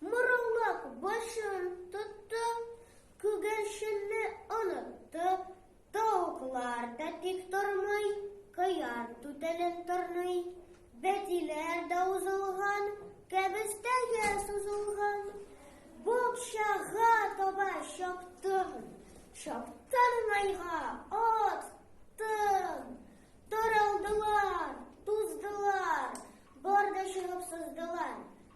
Мораллык башын тотты, күгәрченне онытты, тавыклар да тик тормый, кыяр түтәлен тырный, бәтиләр дә узылган, кәбестәгә сузылган. Букчага таба чаптым, чаптым майга, аттым. Таралдылар, туздылар, бар да чыгып сыздылар.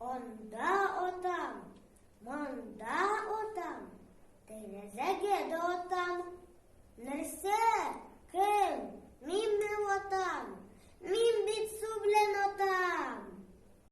Анда отам, монда отам, тәрәзәгә дә отам. Нәрсә? Кем? Мин бер отам. Мин бит су белән отам.